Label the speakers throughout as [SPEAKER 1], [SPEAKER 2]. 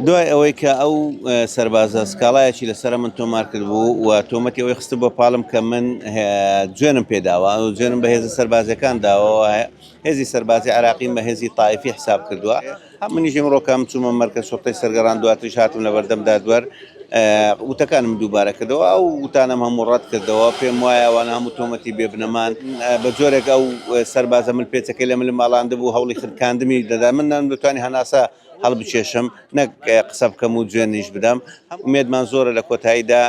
[SPEAKER 1] دوای ئەوەی کە ئەو سەربازە سکاڵایەکی لەسرە من تۆمار کرد بوو و تۆمەتی ئەوەی خستە بۆ پاڵم کە من جوێنم پێداوە و جوێنم بە هێزە سەربازەکان داوە هێزی سەربازی عراقیم بە هێزی تایفی حساب کردووە منیژم ڕۆکەم چوومە مەرکە سوختی سەرگەڕان دواتری هاتم لە بەردەم دادوەر وتەکانم دووبارە کردەوە ئەو وتانم هەموو ڕەت کردەوە پێم وایە وان هەموو تۆمەتی بێبنەمان بە جۆرێک ئەو سەربازە من پێچەکەی لە مل ماڵاند بوو هەوڵی خرکاندمی دەدا من نەم دەتوانانی هەناسە هەڵبکێشم نەک قسە بکەم و جوێنیش بدەم ئومێدمان زۆرە لە کۆتاییدا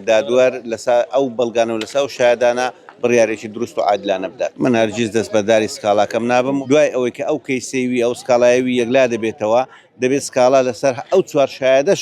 [SPEAKER 1] دادوەر لەسا ئەو بەڵگانە و لەسا ئەو شایەدانە بڕیارێکی دروست و عادلانە بدات. من هەرگیز دەستبەرداری سکاڵاکەم نابم، دوای ئەوەی کە ئەو کەیسەی وی، ئەو سکاڵایەی وی یەکلا دەبێتەوە، دەبێت سکاڵا لەسەر ئەو چوار شایەدەش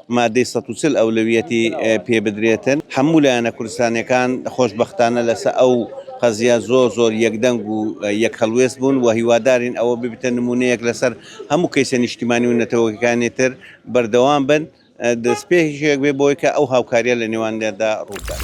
[SPEAKER 1] مادەی سەد و چل ئەولەویەتی پێ بدرێتن هەموو لایەنە کوردستانیەکان خۆشبەختانە لەسە ئەو قەزیە زۆر زۆر یەکدەنگ و یەک هەڵوێست بوون و هیوادارین ئەوە ببیتە نمونەیەک لەسەر هەموو کەیسە نیشتیمانی و نەتەوەکانی تر بەردەوام بن دەستپێکیشێک بێ بۆی کە ئەو هاوکاریە لە نێوانیاندا ڕووبدات.